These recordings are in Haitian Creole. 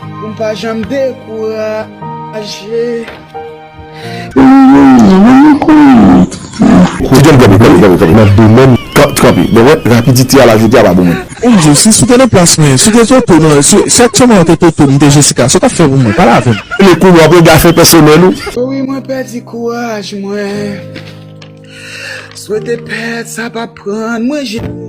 Pou m pa janm dekouraje. Li gen gwo pwoblèm nan domèn rapidite a la jodi a pa bon menm. Yon jou si sou te nan plas mwen, si w te Toto nan, si aktyèman yo te Toto m te Jessica, sa w t ap fè pou mwen? Pale avè m. Li kou w ap regafe pèsonèl ou. O wi mwen pèdi kouraj mwen. Swete pèt sa pa pran mwen jete.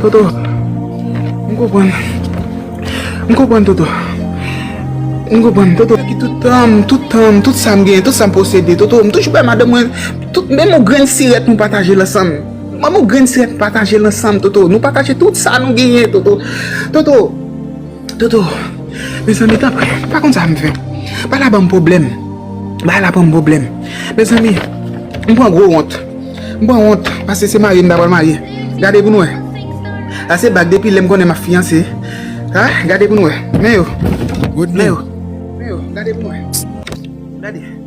Toto, m konprann. M konprann Toto. M konprann Toto. Ki tout tan m, tout tan m, tout sa m gen, tout sa m posede Toto, m toujou bay madanm mwen tout, menm yon grenn sirèt nou pataje l ansanm. Menm yon grenn sirèt nou pataje l ansanm Toto. Nou pataje tout sa nou genyen Toto. Toto. Dodo, mezanmi tanpri, m pa konn sa m fè. Bagay la ban m pwoblèm. Bagay la ban m pwoblèm. Mezanmi, m pran gwo wont. M pran wont paske se marye m ta pral marye. Gade pou n wè. Sa se bag depi lè m konnen m ap fiyanse. A, gade pou n wè. Men yo. Men yo. Men yo. Gade pou n wè. Gade.